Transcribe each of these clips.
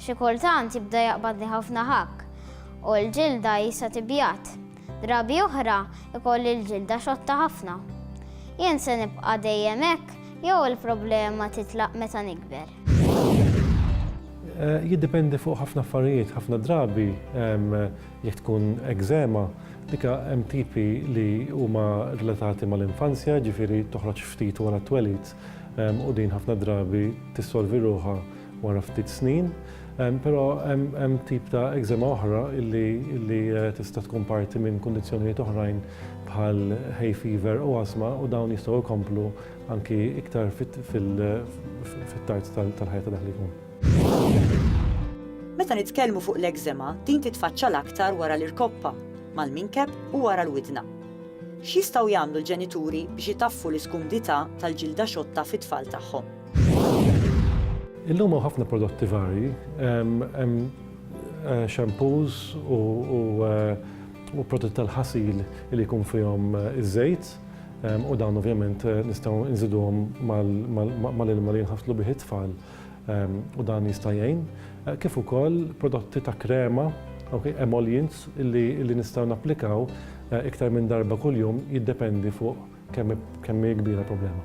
Xi kultant jibda jaqbadli ħafna ħakk u l-ġilda jisa tibjad. Drabi oħra jkolli l-ġilda xotta ħafna. Jien se nibqa' dejjem hekk jew il-problema titlaq meta nikber? Jiddependi fuq ħafna affarijiet, ħafna drabi jekk tkun ekzema, dik hemm tipi li huma relatati mal-infanzja, jiġifieri toħroġ ftit wara t-twelid. u din ħafna drabi tissolvi ruħha wara ftit snin, però hemm tip ta' eżema oħra li tista' tkun parti minn kundizzjonijiet oħrajn bħal hay fever u asma u dawn jistgħu jkomplu anki iktar fit-tard tal-ħajja ta' dak li jkun. Meta nitkellmu fuq l-eżema, din titfaċċa l-aktar wara l-irkoppa, mal-minkeb u wara l-widna. X'jistgħu jagħmlu l-ġenituri biex itaffu l-iskumdità tal-ġilda xotta fit-tfal tagħhom? Illum hawn ħafna prodotti varji. Hemm shampoos u prodotti tal-ħasil li jkun fihom iż-żejt u dawn ovvjament nistgħu nżiduhom mal-ilma li jinħaslu bih it-tfal. u dan jista' jgħin, kif ukoll prodotti ta' krema, emollients, li nistgħu napplikaw iktar minn darba kuljum jiddependi fuq kemm hi kbira l-problema.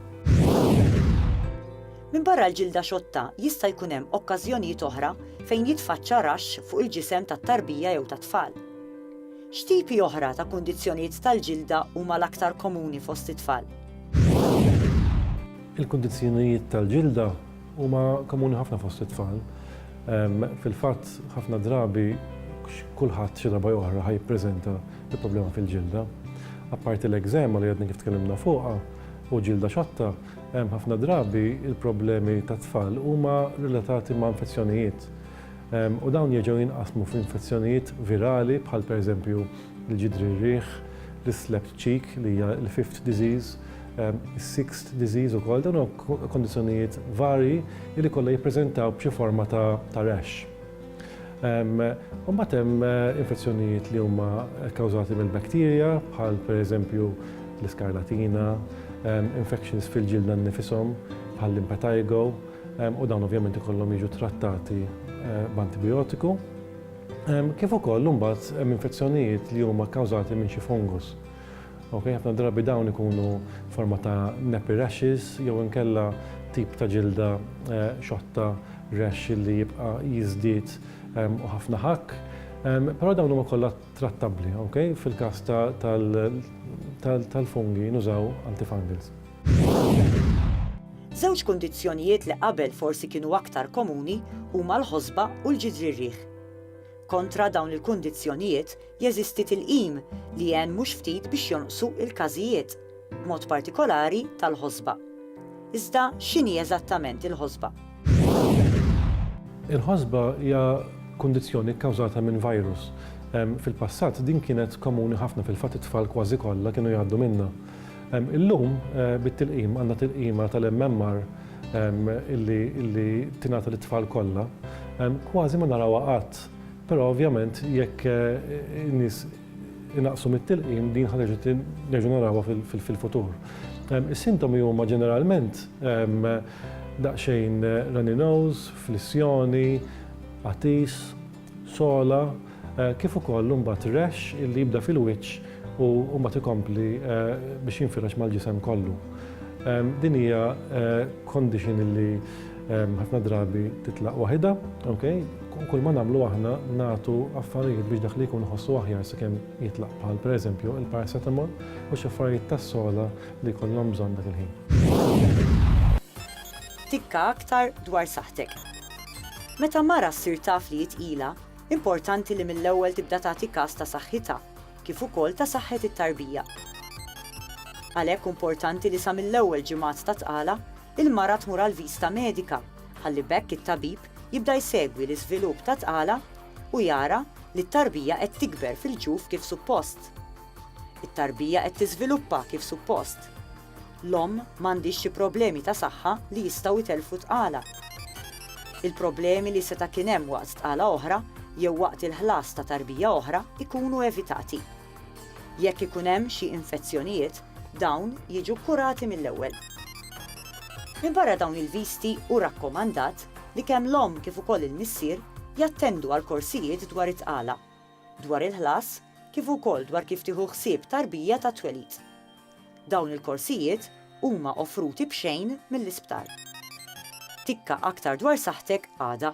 Minbarra l-ġilda xotta, jista' jkun hemm okkażjonijiet oħra fejn jitfaċċa raxx fuq il-ġisem tat-tarbija jew tat-tfal. X'tipi oħra ta' kundizzjonijiet tal-ġilda huma l-aktar komuni fost it-tfal? Il-kundizzjonijiet tal-ġilda huma komuni ħafna fost it-tfal. Fil-fatt, ħafna drabi kulħadd xi darba jew oħra ħa jippreżenta bi problema fil-ġilda. Apparti l-ekżema li għadna kif tkellimna fuqha u ġilda xotta, hemm ħafna drabi l-problemi tat-tfal huma relatati ma' infezzjonijiet. u dawn jerġgħu jinqasmu f'infezzjonijiet virali bħal pereżempju l-ġidri r-riħ, l-islept cheek li hija l-fifth disease, is-sixth disease ukoll, dawn huma kondizzjonijiet varji li kollha jippreżentaw b'xi forma ta' rash. U mbagħad hemm infezzjonijiet li huma kkawżati mill-bakterja bħal pereżempju l-iskarlatina, infections fil-ġilda nnifishom bħall-impetigo, u dawn ovvjament ikollhom jiġu trattati b'antibijotiku, kif ukoll imbagħad hemm infezzjonijiet li huma kkawżati minn xi fungus. Ok, ħafna drabi dawn ikunu forma ta' nappy rashes jew inkella tip ta' ġilda xotta rash li jibqa' jiżdied u ħafna ħakk. Però dawn huma kollha trattabbli, ok? Fil-każ tal-fungi nużaw antifungals. Żewġ kundizzjonijiet li qabel forsi kienu aktar komuni huma l-ħosba u l-ġidrirrieħ. Kontra dawn il-kundizzjonijiet jeżisti tilqim li għen mhux ftit biex jonqsu l-każijiet, b'mod partikolari tal-ħosba. Iżda x'inhi eżattament il-ħosba? Il-ħosba hija kundizzjoni kkawżata minn virus. Fil-passat din kienet komuni ħafna, fil-fatt it-tfal kważi kollha kienu jgħaddu minnha. Illum bit-tilqim għandna tilqima tal-MMR illi tingħata lit-tfal kollha. Kważi ma narawha qatt, però ovvjament jekk in-nies inaqqsu mit-tilqim din ħa terġa' nerġgħu narawha fil-futur. Is-sintomi huma ġeneralment daqsxejn runny nose, flissjoni, għatis, sola, kif ukoll imbagħad rexx illi jibda fil-wiċċ u mbagħad ikompli biex jinfirex mal-ġisem kollu. Din hija condition illi ħafna drabi titlaq waħidha, okay? U kull ma nagħmlu aħna nagħtu affarijiet biex dak li jkun iħossu aħjar sakemm jitlaq bħal pereżempju il-paracetamol u xi affarijiet tas-sola li jkollhom bżonn dak il-ħin. Tikka aktar dwar saħħtek. Meta mara ssir taf li hi tqila, importanti li mill-ewwel tibda tagħti kas ta' saħħitha, kif ukoll ta' saħħet it-tarbija. Għalhekk hu importanti li sa mill-ewwel ġimgħat ta' tqala, il-mara tmur għal vista medika, ħalli b'hekk it-tabib jibda jsegwi l-iżvilupp ta' tqala u jara li t-tarbija qed tikber fil-ġuf kif suppost. It-tarbija qed tiżviluppa kif suppost. L-omm m'għandhiex xi problemi ta' saħħa li jistgħu jtellfu tqala. Il-problemi li seta' kien hemm waqt tqala oħra jew waqt il-ħlas ta' tarbija oħra jkunu evitati. Jekk ikun hemm xi infezzjonijiet, dawn jiġu kkurati mill-ewwel. Minbarra dawn il-viżti hu rakkomandat li kemm l-omm kif ukoll il-missier jattendu għal korsijiet dwar it-tqala, dwar il-ħlas kif ukoll dwar kif tieħu ħsieb tarbija tat-twelid. Dawn il-korsijiet huma offruti b'xejn mill-isptar. Tikka aktar dwar saħħtek għada.